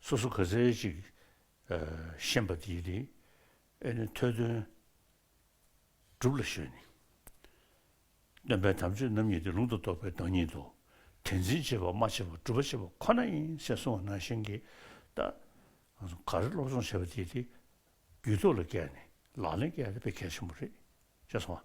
སོ་སོ་ག་ཚད་ཅིག་ཤེས་པ་དེའི་དེ་ཨེ་ནི་ཐོས་དོན་སྒྲུབ་ལ་ཞོན་ནི། སྟོན་པའི་དམ་ཆོས་རྣམ་གཉིས་ཏེ་ལུང་དུ་གཏོགས་པའི་བདག་ཉིད་དོ། དེ་འཛིན་བྱེད་པ་མ་བྱས་པ་སྒྲུབ་པ་བྱེད་པ་ཁོ་ན་ཡིན་སེ་གསུང་བ་ནང་བཞིན་གྱིས་ལྟ། ག་རེ་སློབ་སྦྱོང་བྱས་པ་དེའི་དེ་རྒྱུད་ཐོག་ལ་བཀལ་ནས་ལག་ལེན་བཀལ་ན་གལ་ཆེན་པོ་རེད་ཅེས་གསུང་བ།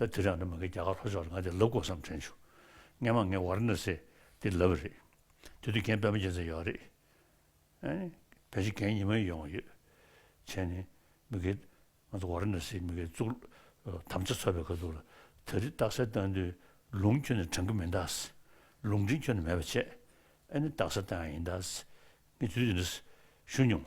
ད་དུས་རང་ད་མ་གི་རྒྱ་གར་ལྷོ་ཕྱོགས་ལ་ང་དེ་ལབ་དགོས་བསམ་དྲན་བྱུང། སྔན་མ་ངའི་བར་ན་སེ་དེ་ལབ་པ་རེད། དེ་དུས་རྒན་པད་མ་རྒྱལ་མཚན་ཡོད་རེད། བོད་ཕྱི་རྒན་ཉི་མ་ཡི་ཡོང་བ་ཡོད། བྱས་ནས་མི་གི་ང་ཚོ་བར་ན་སེ་མི་གི་གཙུག་ལག་དམ་བཅའ་འཚོལ་བའི་ཁ་ཐུག་ལ་ད་རི་སྟག་སེ་བཏང་དུས་ལུང་ཁྱོད་ནས་དྲང་གི་མི་འདག་སེ། ལུང་འདྲེན་ཁྱོད་ནས་མེད་པ་བྱས། ཨ་ནི་སྟག་སེ་བཏང་ཡ་ཡིན་འདག་སེ། ངས་དུས་དེ་འདྲ་ཞུ་མྱོང།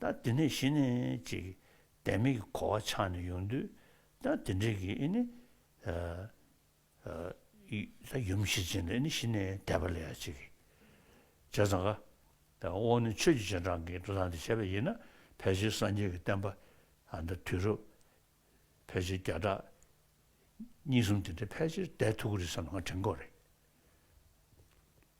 ད་འདི་ནས་གཞི་ནས་ཅིག་བདེན་མེད་ཀྱི་གོ་བ་ཆགས་ནས་ཡོང་དུས་ད་འདི་འདྲེ་གི་ཨི་ནི། ད་ཡུམ་གཞི་ཅན་ལ་ཨི་ནི་གཞི་ནས་བདེ་བ་ལས་ཡ་ཅིག་གི་བྱས་ཙང་ཀ། ད་འོ་ནི་ཆོས་ཀྱི་སྤྱན་དྲངས་ཀྱི་འགྲོ་སྟངས་འདི་བྱས་པ་ཡིན་ན་ཕལ་ཆེར་སངས་རྒྱས་ཀྱི་བསྟན་པ་ཨ་མདའ་དུས་རབས་ཕལ་ཆེར་བརྒྱ་ཕྲག་གཉིས་གསུམ་དེ་འདྲའི་ཕལ་ཆེར་འདས་ཐུག་གི་རེད་བསམ་ན་ང་དྲན་དགོས་རེད།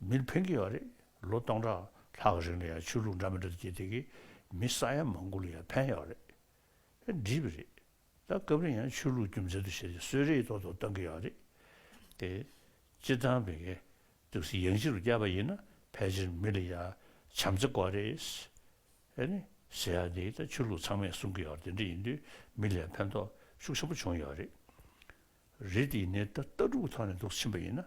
མིར་ཕན་གི་ཡོད་རེད་ལོ་སྟོང་ཕྲག་ལྷག་གི་རིང་ལ་ཡང་ཆོས་ལུགས་འདྲ་མི་འདྲ་དུ་སྐྱེས་དེ་གི་མི་ས་ཡ་མང་པོ་ལ་ཡང་ཕན་ཡོད་རེད་ཨེ་འགྲིག་གི་རེད་ད་སྐབས་རེ་ཡང་ཆོས་ལུགས་རྒྱུ་མཚན་དུ་བྱས་ཏེ་གསོད་རེས་ཐོག་ཏུ་གཏང་གི་ཡོད་རེད་དེ། སྤྱིར་བཏང་མི་སྒེར་དུ་སི་ཡང་སྤྱི་རུ་བསྐྱལ་བ་ཡིན་ན་ཕལ་ཆེར་མི་ལ་ཡ་བྱམས་བརྩེ་དགོས་རེད། ཨེ་ནི་ཟེར་ཡག་འདི་ད་ཆོས་ལུགས་ཚང་མས་གསུང་གི་ཡོད་དེ་འདྲ་ཡིན་དུས་མི་ལ་ཡང་ཕན་ཐོགས་ཤུགས་ཆེན་པོ་བྱུང་ཡོད་རེད། རེད་དེ་ཡིན་ནའི་ད་ལྟ་དཀྲུག་ཐོག་ནས་འདུག་ཕྱིན་པ་ཡིན་ན་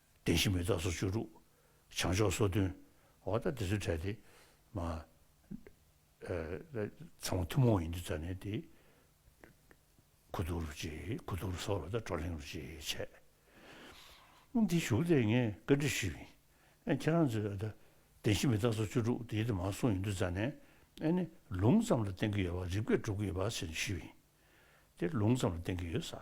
བདེན་བཞི་མི་རྟག་སོ་བཅུ་དྲུག། བྱང་ཕྱོགས་སོ་བདུན། འོ་ད་དེ་ཚོའི་གྲས་དེ། མ། ཚང་མ་ཐུན་མོང་ཡིན་དུས་རྩ་ནས་དེ། ཁུ་དུག་རུ་ཅེས་ཁུ་དུག་རུ་སོགས་ལ་དང་བྲོ་གླེང་རུ་ཅེས་བྱས། འདི་བཞུགས་ཏེ་ངས་བཀའ་འདྲི་ཞུས། ཨེ་ཁྱེད་རང་ཚོས་འོ་ད་བདེན་བཞི་མི་རྟག་སོ་བཅུ་དྲུག་དེའི་དེ་མ་གསུངས་ཡིན་དུས་རྩ་ནས་ཨེ་ནི་ལུང་ཙམ་ལ་བརྟེན་གྱི་ཡོད་བ་རིགས་པས་སྒྲུབ་ཀྱི་ཡོད་བ་ཞེས་ཞུས། དེ་ལུང་ཙམ་ལ་བརྟེན་གྱི་ཡོད་ས།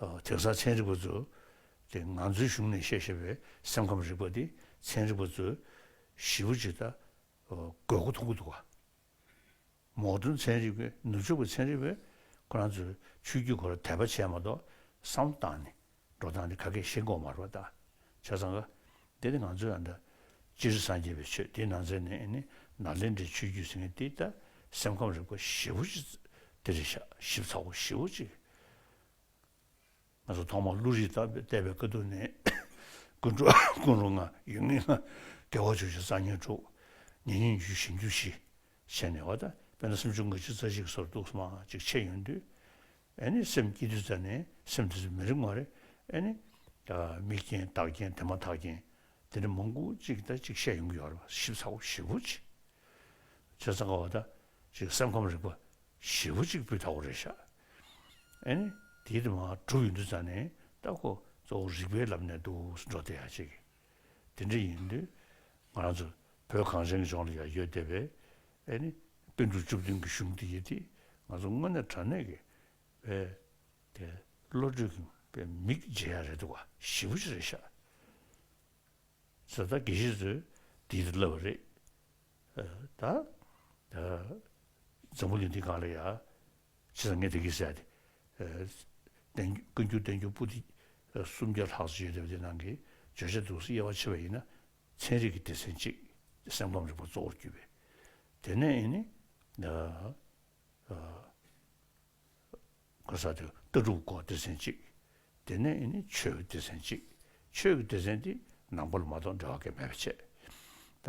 དེང་སང་ཚན་རིག་པ་ཚོས་དེ་ང་ཚོའི་གཞུང་ནས་བཤད་བཞིན་པའི་སེམས་ཁམས་རིག་པ་འདི་ཚན་རིག་པ་ཚོས་གཞི་པོ་ཅིག་ད་དགོས་མཁོ་མཐོང་གི་འདུག་ག་མོག་སྒྲོན་ཚན་རིག་པས་ནུབ་ཕྱོགས་ཀྱི་ཚན་རིག་པས་ཁོ་རང་ཚོའི་ཆོས་བརྒྱུད་སྐོར་དད་པ་བྱས་མ་གཏོགས་བསམ་སྟངས་ནི་འགྲོ་སྟངས་ནི་ག་གེ་ཞེ་མགོ་མར་བ་ལྟ་བྱས་ཙང་ག་དེ་ནི་ང་ཚོའི་ཨ་མདའ་སྤྱིར་སངས་རྒྱས་པའི་ཆོས་དེའི་ནང་ཚན་ནས་ནི་ནཱ་ལེནྡྲའི་ཆོས་བརྒྱུད་ཟེར་མཁན་དེ་ད་སེམས་ཁམས་རིག་པ་གཞི་པོ་ཅིག་དེ་རེད་བཞག་ཞིབ་ཚགས་པོ་གཞི་པོ་ཅིག་ང་ཚོ་ཐོག་མར་བློ་རིག་བརྟག་པའི་ལྟེ་བའི་དཀའ་སྡུག་ནི། ཀུན་འགྲོ་ཀུན་རུང་ང་ཡོད་ངེས་ན། དགེ་བ་བཅུ་བཞི་གསང་སྙིང་དྲུག། ཉེ་སྙིང་བརྒྱུད་བཞི་འགྱུར་བཞི། བྱས་ནས་བ་དན་དཔེ་ན་སུམ་ཅུ་ང་གཅིག་རྩ་གཅིག་གི་སོར་གདུགས་སུ་མ་གཅིག་ཕྱེད་ཡོད་དུས། ཨེ་ནི་སེམས་སྐྱེ་དུས་རྩ་ནི་སེམས་དེ་ཚོ་མི་རིག་མ་རེད། ཨེ་ནི། མིག་རྐྱེན་བདག་རྐྱེན་དེ་མ་ཐག་རྐྱེན། དེ་ནི་མང་པོ་གཅིག་དང་གཅིག་ཕྱེད་ཡོང་གི་ཡོད་རེད་བ་ཞིབ་ཚགས་པོ་བཞི་པོ་གཅིག། ཚོད་ཚང་ག་བ་དང་གཅིག་སེམས་ཁམས་རིག་པ་བཞི་པོ་གཅིག་སྤུས་དག་པོ་རེད་བཞག་ཨན། དེའི་དུ་མ་དྲུག་ཡོད་འདུག་ཙང་ནས་ལྟ་གོ། གཙོ་བོ་རིག་པའི་ལམ་ནས་འདུག་གསུང་སྒྲོག་དེ་ཡང་བྱེད་ཀྱི། དེ་འདྲ་ཡིན་དུས། ང་རང་ཚོ་བོད་གངས་ཅན་གྱི་ལྗོངས་ལ་ཡང་ཡོད་བསྡད་པས། ཨན། དཔེ་འབྲུ་བཅུ་བདུན་གྱི་གཞུང་འདི་ཡིན་དུས་ང་ཚོ་དངོས་གནས་དྲང་གནས་ཀྱི། བའི། དེ་བློ་གྲོས་ཀྱི། པའི་མིག་འབྱེད་ཡག་རེད་འདུག་བ་ཞི་བོ་ཅི་རེད་ཤག། ཟེར་ད་དགེ་བཤེས་ཚོས་འདི་ལྟར་ལབ་བ་རེད། ད། འཛམ་བུ་གླིང་འདི་གང་ལ་ཡང། ཕྱི་ལ་ངས་བདེ་སྐྱིད་བསད་དེ། བཀའ་འགྱུར་བསྟན་འགྱུར་པོ་ཏི་སུམ་བརྒྱ་ལྷག་ཅིག་ཡོད་དེ་བ་དེ་ནང་གི་བརྗོད་བྱ་སྡུག་ས་དབྱེ་བ་ཕྱེ་བ་ཡིན་ན་ཚན་རིག་གི་སྡེ་ཚན་གཅིག་དེ་སེམས་ཁམས་རིག་པ་གཙོ་བོར་གྱུར་པས་དེ་ནས་ནི་ཀ་ས་དེ་ལྟ་གྲུབ་སྐོར་སྡེ་ཚན་གཅིག་དེ་ནས་ནི་ཆོས་ཀྱི་སྡེ་ཚན་གཅིག་ཆོས་ཀྱི་སྡེ་ཚན་དེ་ནང་པོ་ལ་མ་གཏོགས་འབྲེལ་བ་སྐད་མེད་པས་ཆད། ད་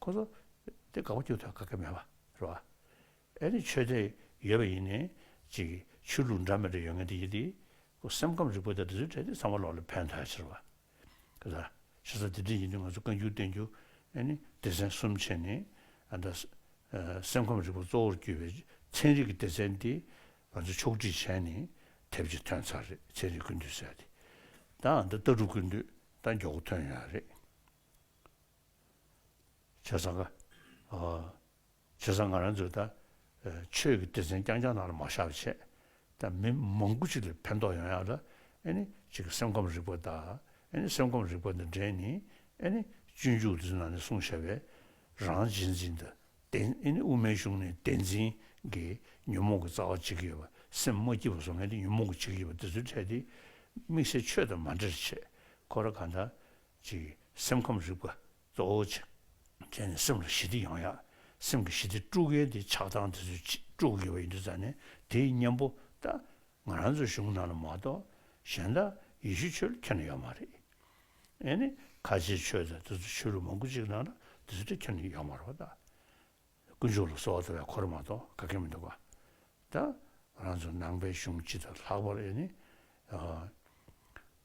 ཁོ་ཚོ་དེ་དགའ་བོ་སྐྱོན་ཐོན་དགའ་གི་མེད་པ་རེད་བ། ཨེ་ནི་ཆོས་དད་ཡོད་པ་ཡིན་ནའི་ཅིག་ཆོས་ལུགས་འདྲ་མི་འདྲ་ཡོད་ངེས་དེ་ཡིན་དེ། ཁོ་སེམས་ཁམས་རིག་པ་དང་འབྲི་ཚུལ་བྲལ་ཏེ་ཚང་མ་ལོག་ལ་ཕན་ཐོགས་ཕྱིར་བ། ག་ལ། ཤ་ཚ་དེ་འདྲས་ཡིན་དུས་ང་ཚོ་བཀའ་འགྱུར་བསྟན་འགྱུར་ཨེ་ནི་སྡེ་ཚན་གསུམ་ཕྱེས་ནས་ཨ་འདྲ། སེམས་ཁམས་རིག་པ་གཙོ་བོར་གྱུར་པའི་ཚན་རིག་གི་སྡེ་ཚན་དེ་ང་ཚོ་ཕྱོགས་བསྒྲིགས་བྱས་ནས་དེབ་ཅིག་ཐོན་ཚར་རེད་ཚན་རིག་ཀུན་འདུས་ཟེར་ཏེ། ད་ཨ་འདྲ་ལྟ་གྲུབ་ཀུན་འདུས་ད་མགྱོགས་པོ་ཐོན་ཡོད་རེད། བྱས་ཙང་ང། བྱས་ཙང་ང་རང་ཚོས་ད། ཆོས་ཀྱི་སྡེ་ཚན་རྐྱང་རྐྱང་ནང་ལ་མ་བཞག་པའི་ཆེད་དུ་མི་མང་པོ་ཅིག་ལ་ཕན་ཐོགས་ཡོང་ཡག་ལ། ཨེ་ནི། ཅིག་གི་སེམས་ཁམས་རིག་པ་དང། ཨེ་ནི། སེམས་ཁམས་རིག་པ་དང་འབྲེལ་ནི། ཨེ་ནི། སྤྱོད་འཇུག་འདི་ཚོ་ནང་ནས་གསུང་བཤད་པས། རང་རྗེས་འཛིན་དང། བདེན། ཨེ་ནི། དབུ་མའི་གཞུང་ནི་བདེན་འཛིན། གི། ཉོན་མོངས་ཀྱི་རྩ་བ་འཇིག་གི། སེམས་མ་སྐྱིད་པ་བཟོ་མཁན་དེ་ཉོན་མོངས་ཀྱི་འཇིག་གི། འདི་ཚོའི་ཕྲད་དེ། དམིགས་བསལ་ཆོས་དང་མ་འབྲེལ་ཆེད། ཁོ་ར་གང་དང། གཅིག་སེམས་ཁམས་རིག་པ་གཙོ་བོ་བྱས། བྱས་ནས་སེམས་ལ་ཞི་བདེ་ཡོང་ཡག་སེམས་ཀྱི་ཞི་བདེ་དཀྲུག་མཁན་དེ་ཆགས་སྡང་དེ་ཚོས་དཀྲུག་དགོས་པ་ཡིན་འདུག་ས་ནས་དེ་ཡི་གཉེན་པོ་ད་ང་རང་ཚོའི་གཞུང་ནང་ལ་མ་གཏོགས་གཞན་དག་ཡེ་ཤུ་ཆོས་ལ་འཁྱེར་ན་ཡོད་མ་རེད། ཨེ་ནས་ཁ་ཆེའི་ཆོས་དང་དེ་ཚོ་ཆོས་ལུགས་མང་དགུ་གཅིག་ནང་ལ་དེ་ཚོ་དེ་འཁྱེར་ན་ཡོད་མ་རོག་ད། དཀོན་མཆོག་ལ་གསོལ་བ་འདེབས་པའི་གོ་རེ་མ་གཏོགས་ག་གེ་མི་འདུག་ག། ད་ང་རང་ཚོ་ནང་པའི་གཞུང་སྤྱི་དང་ལྷག་པར་ཨེ་ནས།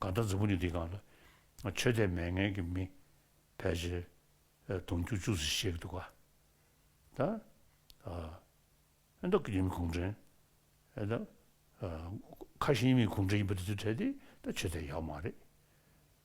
གང་ལྟར་རྫུ་འཕྲུལ་གྱི་འདི་གང་ལ། ཆོས་དད་མེད་ངན་གྱི་མི། ཕལ་ཆེར་དུང་ཆུ་བཅུག་ཟེར་བཤད་གི་འདུག་ག་ད། ཨདོ་ཀྱི་མི་གུང་བྲན། ཁ་ཤས་ཡིན་མིན་གུང་བྲན་ཡིན་པ་དེ་ཚོའི་གྲས་དེ་ད་ཆོས་དད་ཡག་མ་རེད།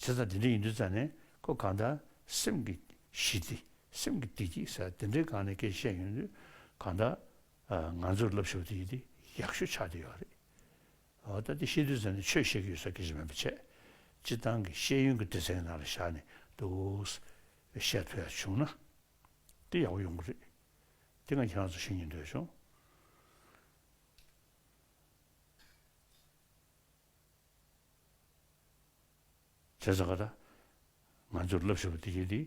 ཚེ་ཚད་འདི་འདྲ་ཡིན་དུས་ཚད་ནི་ཁོ་གང་ལྟར་སེམས་ཀྱི་ཞི་བདེ་སེམས་ཀྱི་བདེ་སྐྱིད་ཟེར་དེ་འདྲའི་སྒང་ནས་སྐད་བཤད་ཡོང་དུས་གང་ལྟར་ང་ཚོར་སློབ་ཞོར་དུ་ཡིད་བདེ་ཡག་ཤོས་ཆགས་བསྡད་ཡོད་རེད། འོ་ད་འདི་ཤེས་དུས་ཚད་ནི་ཆོས་བཤད་རྒྱུ་ཡོད་ས་ཁེ་ཆེ་མེད་པ་ཆེ་སྤྱི་བཏང་གི་ཤེས་ཡོན་གྱི་དུས་ཚད་ཀྱི་ནང་ལ་བཞག་ནས་འདུག་བཤད་ཐུབ་ཡག་བྱུང་ན་འདི་ཡག་པོ་ཡོང་གི་རེད་འདི་ང་ཁྱེད་རང་ཚོར་ཤེས་ཉེན་འདོད་བྱུང། ཅེས་གསུངས་པ་དང། ང་ཚོས་བསླབ་ཤེས་པ་འདི་ཡིན་ཏེ།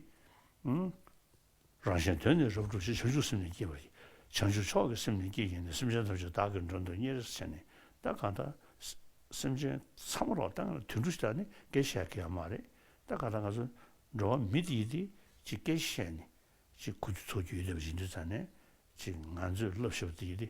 རང་གཞན་དོན་ནི་རབ་བསྒྲུབ་ཅེས་བྱང་ཆུབ་སེམས་ནི་བསྐྱེད་པ་ཡིན། བྱང་ཆུབ་མཆོག་གི་སེམས་ནི་བསྐྱེད་ཡིན་ནོ་སེམས་ཅན་ཐམས་ཅད་བདག་གི་མགྲོན་དུ་གཉེར་རེས་བྱས་ནས་ད་གང་ལྟར། སེམས་ཅན་ཚང་མ་རོགས་ལྟ་དུད་འགྲོ་ཞིག་ལྟར་ནི་སྐད་བཤད་དགོས་ཡ་མ་རེད་ད་གང་ལྟར་ང་ཚོ་འགྲོ་བ་མི་དེ་ཡིན་ཏེ་ཅིག་སྐད་བཤད་ནས་ཅིག་གུ་རྒྱུ་ཚོགས་རྒྱུ་ཡོད་ལྟ་བུ་ཞིག་འདུག་ཙང་ནས་ཅིག་ང་ཚོས་བསླབ་ཤེས་པ་འདི་ཡིན་ཏེ།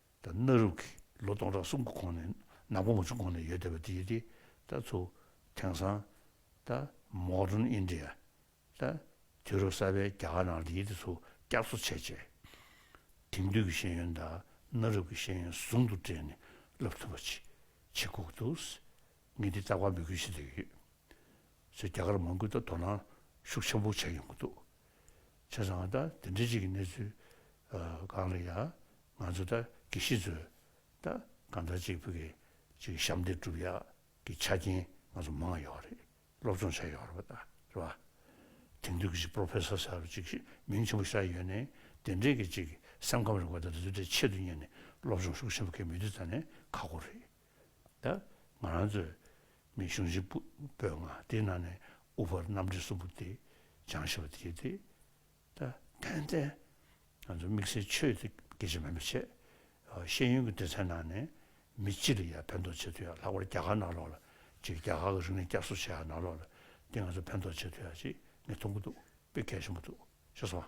ད་གནའ་རབས་ཀྱི་ལོ་སྟོང་ཕྲག་གསུམ་གྱི་གོང་ནས་ནག་པོ་མོ་ཆུང་གོང་ནས་ཡོད་བསྡད་པ་དེ་ཡིན་ཏེ། ད་ཚུ། དེང་སང། ད། Modern India། ད། དུས་རབས་གསར་པའི་རྒྱ་གར་ནང་དེ་ཡིན་ཏེ་ཚུ་སྐྱག་ཚུ་ཆད་ཆད། དེང་དུས་ཀྱི་ཤེས་ཡོན་དང་གནའ་རབས་ཀྱི་ཤེས་ཡོན་ཟུང་དུ་སྦྲེལ་ནས་ལབ་ཐུབ་པ་ཅི། ཆེ་སྒུག་འདུག། ངས་འདི་ལྟར་བ་མོས་གུས་ཞུ་འདོད་ཡོད། ཚུ་རྒྱ་གར་མང་ཁུལ་དུ་དོ་སྣང་ཤུགས་ཆེན་པོ་བྱས་ཡོང་གི་འདུག། བྱས་ཙང་ད་དེ་འདྲའི་ཅིག་གི་གནས་ཚུལ། གང་ལ་ཡང། ང་ཚོ་ད་གི་ཤི་ཚོད་ད་ག་འདྲ་ཅིག་བུ་གི་ཅིག་ཞབས་འདེགས་སྒྲུབ་ཡག་གི་ཆ་རྐྱེན་ང་ཚོ་མང་ཡོག་རེད་སློབ་སྦྱོང་བྱ་ཡོག་རེད་པ་ད་རེད་པ། དེང་དུས་གི་ཅིག Professor ཟེར་བ་ཅིག་མིང་ཆེན་པོ་ཤར་ཡོད་ནས་དེ་འདྲས་གི་ཅིག་སེམས་ཁམས་རིག་པ་ད་དུས་དེ་ཆེད་དུ་གཉེར་ནས་སློབ་སྦྱོང་ཤུགས་ཆེན་པོ་གི་མི་དུས་ད་ནས་ཁག་པོ་རེད་ད་ང་རང་ཚོས་མི་གཞུང་ཆེན་པོས་ང་དེ་ནང་ནས་དབུ་ཕར་གནམ་བསྒྲིལ་གསུམ་པོ་དེ་སྦྱང་ཤེས་པ་དེ་དེ། དོན་ཏེ། ང་ཚོ་དམིགས་བསལ་ཆོས་དེ་སྐད་ཆ་མིན་པ་ཆེས་ཤེས་ཡོན་གྱི་སྡེ་ཚན་ནང་ནས་མི་སྤྱི་ལ་ཡང་ཕན་ཐོགས་བྱེད་འདོད་ཡག་ལྷག་པར་རྒྱ་གར་ནང་ལོགས་ལ་ཅིག་རྒྱ་གར་གྱི་རིག་གནས་བསྐྱར་གསོ་བྱེད་ཡག་ནང་ལོགས་ལ་འདི་ང་ཚོ་ཕན་ཐོགས་བྱེད་འདོད་ཡག་ཅིག་ངས་མཐོང་གི་འདུག་དཔེ་གལ་ཆེན་པོ་འདུག་ཤེས་སོང།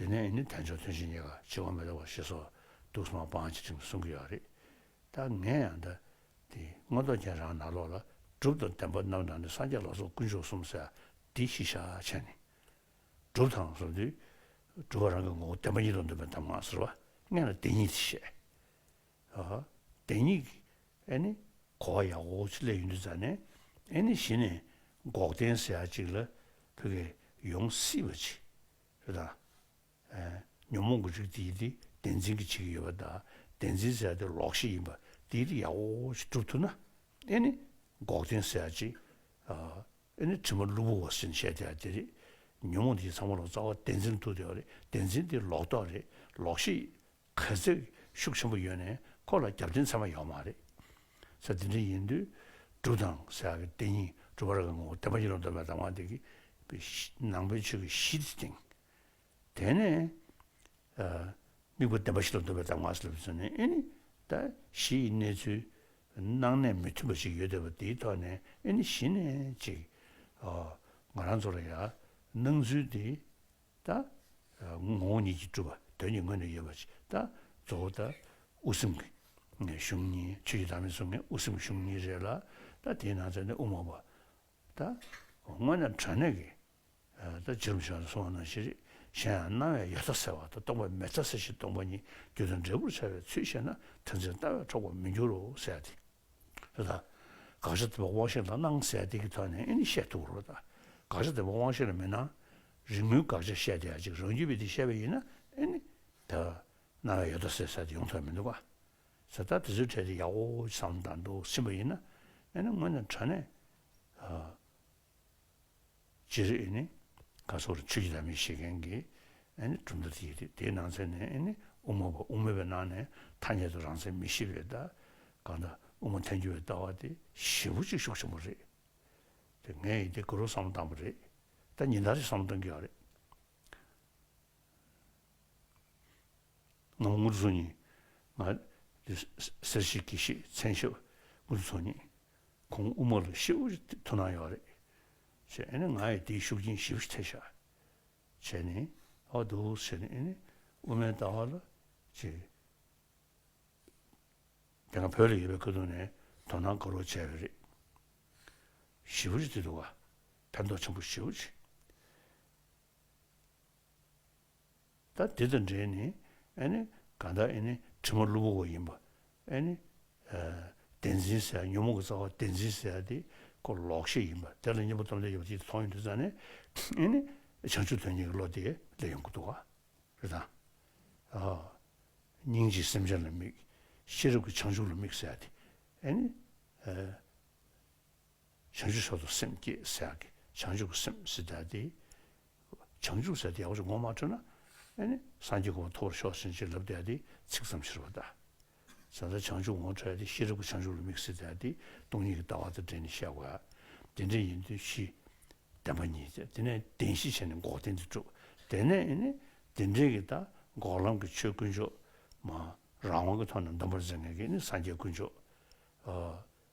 དེ་ནས་ནི་དལ་འབྱོར་ཐུན་བཞིའི་ཉེས་ཁ་འཆི་བ་མི་ལ་བ་ཞེས་སོགས་དུག་གསུམ་མ་སྤངས་བྱེད་ཁྲིམས་བསྲུང་གི་ཡོག་རེད་ད་ངས་ཡང་ད་དེ་སྔོན་རྡོ་རྒྱན་རང་ནག་ལོག་ལ་གྲུབ་དང་བདེན་པ་རྣམ་གྲངས་ནི་སངས་རྒྱས་ལོག་སོགས་དཀོན་མཆོག་གསུམ་བསལ་འདི་གཞི་བཞག་བྱས་ནས་གྲུབ་དང་གསུམ་དུས་གྲུབ་བ་རང་གི་ངོ་བོ་བདེན་པ་ཉིད་དུ་འདོན་པའི་གདམས་ངག་ཟེར་བ་ལྔས་ལ་བདེན་གཉིས་དེ་བཤད། བདེན་གཉིས། གོ་བ་ཡག་པོ་ཅིག་ལས་ཡོད་འདུག་རྫ་ནས་གཞི་ནས་འགོག་བདེན་ཟེར་ཡག་ཅིག་ལ་བོད་སྐད་ཡོང་སྲིད་པ་ཅིག་རེད་ད། ཉོན་མོངས་ཀྱི་རིགས་དེའི་དེ་བདེན་འཛིན་གྱི་བྱེད་ཀྱི་ཡོད་པ་ད་བདེན་འཛིན་ཟེར་ཡག་དེ་ལོག་ཤེས་ཡིན་པ་དེའི་དེ་ཡག་པོ་ཅིག་སྒྲུབ་ཐུབ་ན་འགོག་བདེན་ཟེར་ཡག་ཅིག་དྲི་མ་གླུ་བུར་བ་ཟིན་བཤད་དེ་ཡག་དེ་རེད། ཉོན་མོངས་དེའི་ཚང་མ་ལོག་རྩ་བ་བདེན་འཛིན་ཐུབ་དེ་ཡག་རེད་བདེན་འཛིན་དེ་ལོག་རྟོག་རེད་ལོག་ཤེས་གལ་ཚེགས་ཤུགས་ཆེན་པོ་ཡོད་ནས་ཁོ་ལ་རྒྱབ་རྟེན་ཚད་མ་ཡོད་མ་རེད། ཚེ་འདི་འདྲ་ཡིན་དུས་སྒྲུབ་དང་ཟེར་ཡག་གི་བསྟན་སྙིང་སྒྲུབ་པ་རང་གི་ངོ་བོ་བསྟན་པ་ཡིན་ལ་འདོད་པའི་གདམས་ངག་འདི་གི་ནང་པའི་ཆོས་ཀྱི་གཞི་དེ་སྟེང། དེ་ནས་དམིགས་པ་བདེན་པ་ཞིག་ལ་འདོད་པའི་གདམས་ངག་ཟེར་བའི་ཚུལ་ནི་ཨེ་ནི་ད་གཞི་ཡི་གནས་ཚུལ་སྣང་གནས་མི་མཐུན་པ་ཞིག་ཡོད་འདོད་པ་དེའི་ཐོག་ནས་ཨེ་ནི་གཞི་ནས་ཅིག། ང་རང་ཚོ་ལ་ཡང་སྣང་ཚུལ་འདི་དང། ངོ་བོ་ཉིད་ཀྱིས་གྲུབ་པ་དོན་གྱི་ངོས་ནས་ཡོད་པ་ཞིག་དང་གཙོ་བོ་དང་དབུ་སེམས་ཀྱི་གཞུང་གཉིས་ཆོས་ཀྱི་བདག་མེད་གསུང་མཁན་དབུ་སེམས་ཀྱི་གཞུང་གཉིས་རེད་ལ་དང་དེའི་ནང་ཚན་ནི་དབུ་མ་པ་དང། དངོས་ནས་དྲང་གནས་ཀྱི་དང་འཇིགས་རུམ་ཞིག་ལ་གསུང་བ་ནང་བཞིན་རེད་གཞན་ཡང་སྣང་བའི་ཡོད་ཚ་ཟེར་བ་དང་སྟོང་པ་མེད་ཚ་ཟེར་བཞིན་སྟོང་པ་ཉིད་རྒྱུ་དང་འབྲས་བུར་འཆར་བའི་ཚུལ་བཤད་ན་དོན་ཚན་ལྟ་བས་འཕྲོག་པར་མི་འགྱུར་རོ་ཟེར་ཏེ། ལ། དགག་བྱ་འདི་པ་དབང་ཤེས་ལ་སྣང་གསལ་བདེ་གི་ཐོག་ནས་ཨེ་ནི་བཤད་ཐུག་རོ། དགག་བྱ་འདི་པ་དབང་ཤེས་ལ་མི་སྣང། རིག་མུན་དགག་བྱ་བཤད་དེ་ཡང་ཅིག་རང་རྒྱུད་པས་འདི་བཤད་པ་ཡིན་ན་ཨེ་ནི། དག། སྣང་བའི་ཡོད་དོ་ཟེར་ས་དེ་ཡོང་ཐབས་མི་འདུག་ག། ཟེར་ཐག་དེ་ཚོའི་གྲས་དེ་ཡག་པོ་བསམ་དང་འདུག་ཟིན་པ་ཡིན་ན་ཨེ་ནི་སྔོན་ནས་དྲ་གནས། ལ། སྤྱིར་ཨེ་ནི། ཁ་སོགས་ལ་ཆོས་ཀྱི་ལམ་མི་ཤེས་མཁན་གྱི་ཨེ་ནི་གྲུབ་མཐའ་དེ་ཡོད་དེ། དེའི་ནང་ཚན་ནས་ཨེ་ནི་དབུ་མ་པ་དབུ་མེད་པའི་ནང་ནས་ཐ་སྙད་དུ་རང་མཚན་མི་ཤེས་པའི་ལྟ་ག་དང་དབུ་མ་ཐལ་འགྱུར་བའི་ལྟ་བ་དེ་བཞི་པོ་གཅིག་ཤོག་ཆེན་པོ་རེད། དེ་ངས་ཡིད་བདེ་སྐུ་རུ་བསམ་བློ་བཏང་པ་རེད། ད་ཉིན་ལྟར་ཡང་བསམ་བློ་གཏོང་གི་ཡོད་རེད། ངམ་དངུལ་ཚོ་གཉིས། ང། སེར་ཤེལ་དགེ་བཤེས་མཚན་ཞབས་དངུལ་ཚོ་གཉིས། ཁོང་དབུ་མ་ལ་ཤེའུ་ཡི་དུ་ནང་ཡོད་རེད། བྱས་ཨེ་ནི་ང་ཡི་དེའི་ཤུགས་རྐྱེན་ཞིབ་ཐེ་བྱས། བྱས་ནས། ཨོ་དོ་བྱས་ནས་ཨེ་ནི་དབུ་མའི་ལྟ་བ་ལ། ཅེས། དེ་སྔ་བོད་ལ་ཡོད་པའི་སྐུ་དུང་ནས་དོ་སྣང་དགོས་རོགས་བྱས་ཡོད་རེད། ཤེའུ་ཡི་དུ་དུ་བ། ཕན་ཐོགས་ཆེན་པོ་ཤེའུ་ཆེ། ད་འདི་དང་འདྲེས་ནས་ཨེ་ནི་གང་དག་ཨེ་ནི་དྲི་མ་བླུ་བོ་བ་ཡིན་པ་ཨེ་ནི། བདེན་འཛིན་ཟེར་ཡང་ཉོན་མོངས་ཀྱི་རྩ་བ་བདེན་འཛིན་ཟེར་དེ་ཀོ་ལོག་ཤེས་ཡིན་པ་དེ་ལ་གཉེན་པོ་སྟོབས་ལྡན་ཡོད་པ་ཅིག་མཐོང་ཡོང་དུས་རྩ་ནས་ཨེ་ནི་བྱང་ཆུབ་དོན་གཉེར་གྱི་བློ་དེ་སླེབས་ཡོང་གི་འདུག་ག་རེད་དམ། སྙིང་རྗེས་སེམས་ཅན་ལ་དམིགས། ཤེས་རབ་ཀྱིས་བྱང་ཆུབ་ལ་དམིགས་ཟེར་དེ་ཨེ་ནི། བྱང་ཆུབ་སེམས་དང་སེམས་བསྐྱེད་བསལ་ཡང་གི་བྱང་ཆུབ་ཀྱི་སེམས་སེལ་བསྡད་དེ། བྱང་ཆུབ་ཟེར་ཏེ་ཡག་པོ་ཅིག་ངོ་མ་ཐོས་ན། སངས་རྒྱས་གོ་བ་ཐོབ་པར་ཤོག་ཟིན་ཅིག་ལབ་བསྡད་དེ་ཚིག་ཙམ་ཕྱིར་བ་བལྟ། ཟེར་ན་བྱང་ཆུབ་ངོ་འཕྲད་དེ་ཤེས་རབ་ཀྱི་བྱང་ཆུབ་ལ་དམིགས་བསལ་བསྡད་དེ་སྟོང་ཉིད་ཀྱི་ལྟ་བ་དང་འབྲེལ་ནས་བཤད་དགོས། དེ་འདྲ་ཡིན་དུས་གཞི། བདེན་པ་ཉིད་དེ་དེ་ནས་བདེན་བཞི་བྱས་ནས་འགོག་བདེན་དེ་གྲུབ་དེ་ནས། དེ་འབྲེལ་གྱི་ད་འགོག་ལམ་གྱི་ཆོས་དཀོན་མཆོག། རང་དབང་གི་ཐོག་ནས་འདོམས་པར་མཛད་ངེས་ཀྱི་སངས་རྒྱས་དཀོན་མཆོག།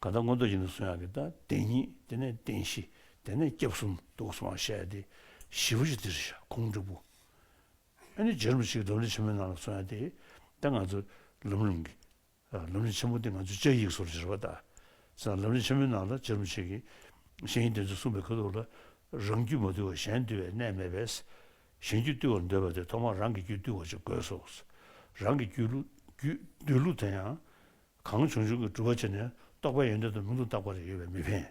གང་ལྟར་མངོན་རྟོགས་ཀྱི་ནི་སོ་ཡང་གི་དང་བདེན་གཉིས་དེ་ནས་བདེན་བཞི་དེ་ནས་སྐྱབས་གསུམ་དུ་གསུང་བར་བཤད་དེ། བཞི་པོ་ཞིག་འདིར་བཞག་ཁོང་དྲུག་པོ། ཨེ་ནི་རྗེ་རིན་པོ་ཆེའི་སྒྲུབ་གླེང་ཆེན་མོའི་ནང་ལ་སོ་ཡང་དེ། དེ་ང་ཚོ། ལམ་གླིང་གི། ལམ་གླིང་ཆེན་མོ་དེ་ང་ཚོས་བཅའ་ཡིག་སོར་བཞིར་བ་དང། སེམས་ལམ་གླིང་ཆེན་མོའི་ནང་ལ་རྗེ་རིན་པོ་ཆེ་གིས། གཞན་ཡིན་དེ་ཚོས་གསུངས་པའི་ཁ་ཐུག་ལ། རང་རྒྱུད་མ་བཏུལ་བར་གཞན་བཏུལ་བའི་གནས་མེད་པས། གཞན་རྒྱུད་བཏུལ་བར་འདོད་པ་དེ་ཐོག་མར་རང་གི་རྒྱུད་བཏུལ་བ་ཅིག་དགོས་སོ། རང་གི་རྒྱུད། བདུད་ལུགས་དེ་ཡང། གང་བྱུང་བྱུང་གི་འགྲུལ་བ་བྱས་ནས་རྟོགས་པའི་ཡོན་ཏན་དང་ལུང་དུ་བཏགས་པ་རེ་ཡོད་པས་མི་ཕན།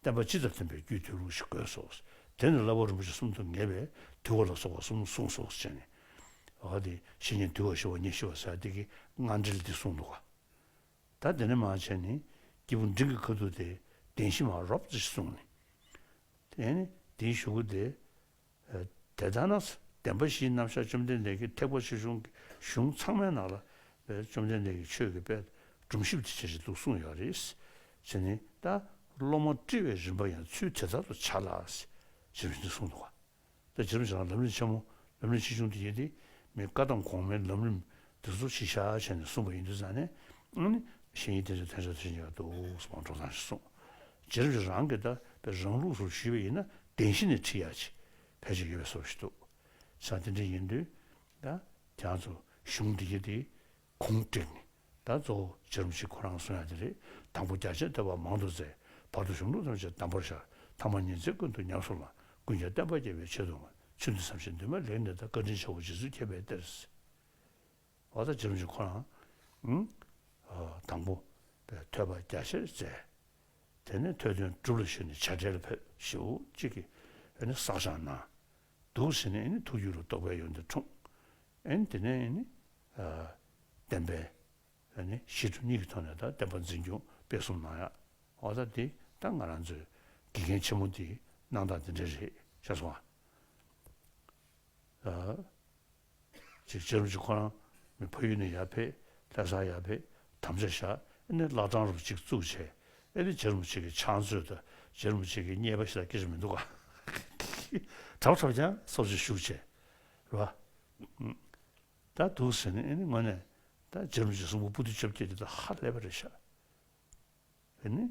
བསྟན་པ་སྤྱི་ལྟར་བསྟན་པའི་རྒྱུད་དུས་ལུགས་ཤིག་དགོས་སོ། དེ་ནི་བླ་བོ་རིན་པོ་ཆེ་གསུམ་དུ་ངེས་པས་དུས་བ་ལ་སོགས་པ་གསུམ་གསུངས་སོ་ཞེས་ནི། འོ་དེ་བཞི་ཉིད་དུས་བ་ཞི་བ་ཉིད་ཞི་བ་ཟད་བདེ་གི་སྔ་འགྲེལ་འདི་གསུངས་འདུག་ག། ད་དེ་ནས་མ་བྱས་ནི། སྐྱེས་བུ་འབྲིང་གི་ཁ་ཐུག་སྟེ་བདེན་བཞི་མ་རོབ་ཙེ་ཞེས་གསུངས། དེ་ནི་དེའི་ཞུ་སྒོ་སྟེ། དེ་ལྟར་ན་བདེན་པ་བཞིའི་རྣམ་གཞག་བཅོམ་ལྡན་འདས་ཀྱི་ཐེག་པ་ཆེ་ཆུང་གི་གཞུང་ཚང་མའི་ནང་ལ་བཅོམ་ལྡན་འདས་ཀྱི་ཆོས་ཀྱི་དཔལ་སྒྲོམ་ཞིབ་ཏུ་བྱེད་བཞིན་འདུག་གསུངས་ཡོད་རེད། ཅེས་ནི་ད་སློབ་མ་བཀྲི་བའི་རིམ་པ་ཡང་ཚུལ་དེ་ལྟར་དུ་བྱ་ལགས། ཞེས་པའི་ཚིག་གསུངས་འདུག་ད་སྦྱར་བྱ་ལགས་ལམ་རིམ་ཆེན་མོ་ལམ་རིམ་ཆེ་ཆུང་དུ་དབྱེ་སྟེ་མི་བཀའ་དང་གོང་མའི་ལམ་རིམ་འདི་ཚོ་ཕྱིས་བྱ་བྱས་ནས་གསུངས་པ་ཡིན་དུ་བསམས་ནས། ཨང་ནི། གཞན་ཡིག་དེ་ཚོའི་ཐན་ཕྲ་དེ་ཚོ་ཡང་འདུག་སྤང་གྲོང་ཚང་ཞེས་གསུངས། སྦྱར་གྱི་རང་གིས་བཏགས་པའི་རང་ལུགས་སུ་ཞུས་པ་ཡིན་ན་བདེན་བཞི་ནི་ཁྲིད་ཡག་ཅིག་ཕལ་ཆེར་ཡོད་པའི་སོར་བཞི་འདུག་ས་དེ་འདྲའི་ཡིན་དུས། དེའང་ཚོ་གཞུང་འདི་ཡི་དེ་གུང་བཀྲིས་ནི། ད་གཙོ་བོ་བྱེ་རུམ་གཅིག་ཁོ་རང་གསུང་ཡག་དེ་རེད་དང་པོ་རྒྱ་ཆེ་བསྟོད་པ་མང་དུ་མཛད་བར་དུ་གཞུང་ལུགས་ཐམས་ཅད་དམ་པོར་བཞག་ཐ་མ་ཉིན་མཚན་ཀུན་ཏུ་ཉམས་སུ་བླངས་ཀུན་ཀྱང་བསྟན་པ་རྒྱས་པའི་ཆེད་དུ་ང་ཚོས་འདི་བསམ་བཞིན་འདུན་མ་ལེགས་ནས་ད་བཀའ་དྲིན་ཆེ་བོ་རྗེ་བཙུན་མཁྱེན་པའི་གཏེར། ཨོ་ད་འཇམ་ཅིང་ཁོ་རང། དང་པོ། པའི་ཐོད་པ་རྒྱ་ཆེར་བཙལ། དེ་ནས་ཐོད་དོན་གྲུབ་ལ་ཞུ་ནས་བྱ་བྲལ་ཕོད་བཞི་བོ་གཅིག་གིས། ཨེ་ནི་བསགས་སྦྱངས་གནང། འདུག་ཟིན་ནས་ཨེ་ནི་ཐུགས་རྒྱུད་ལ་རྟོགས་པའི་ཡོན་ཏན་འཁྲུངས། ཨེ་ནི་དེ་ནས་ཨེ་ནི། བསྟན་པའི། ཨེ་ནི་གཞི་གྲུབ་གཉིས་ཀྱི་ཐོག་ནས་ད་བསྟན་པ་འཛིན་སྐྱོང་སྤེལ་གསུམ་གནང་ཡ། ཨོ་ད་འདི་ལྟར་ང་རང་ཚོའི་དགེ་རྒན་ཆེན་མོ་འདིས་གནང་སྟངས་འདི་འདྲ་རེད་ཤག་སོང། ཅིག་བྱེད་རུང་ཅིག་ཁོ་རང་མི་ཕ་ཡུལ་ནས་ཡར་ཕེབས་ལྷས་ས་ཡར་ཕེབས་དམ་བཅའ་བཞག་ཨེ་ནས་བླ་བྲང་རུ་ཅིག་བཙུགས་བྱས་ཨེ་རེད་བྱེད་རུང་ཅིག་གི་ཕྱག་མཛོད་དུ་བྱེད་རུང་ཅིག་གི་རྙེད་པ་ཞིག་ལ་སྐད་ཆ་མི་འདུག་ག་གྲགས་འཁྲབ་ཀྱང་སོ་ཅིག་བཞུགས་བྱས་ར་ད་འདུག་ཟེར་ནས་ཨེ་ནས་དངོས་ནས་ད་བྱེད་རུང་ཅིག་གསུམ་པོ་སྤུ་དུད་བཅོ་བརྒྱད་འདི་དང་ཧ་ལས་པ་རེད་ཤག་ཨེ་ནས།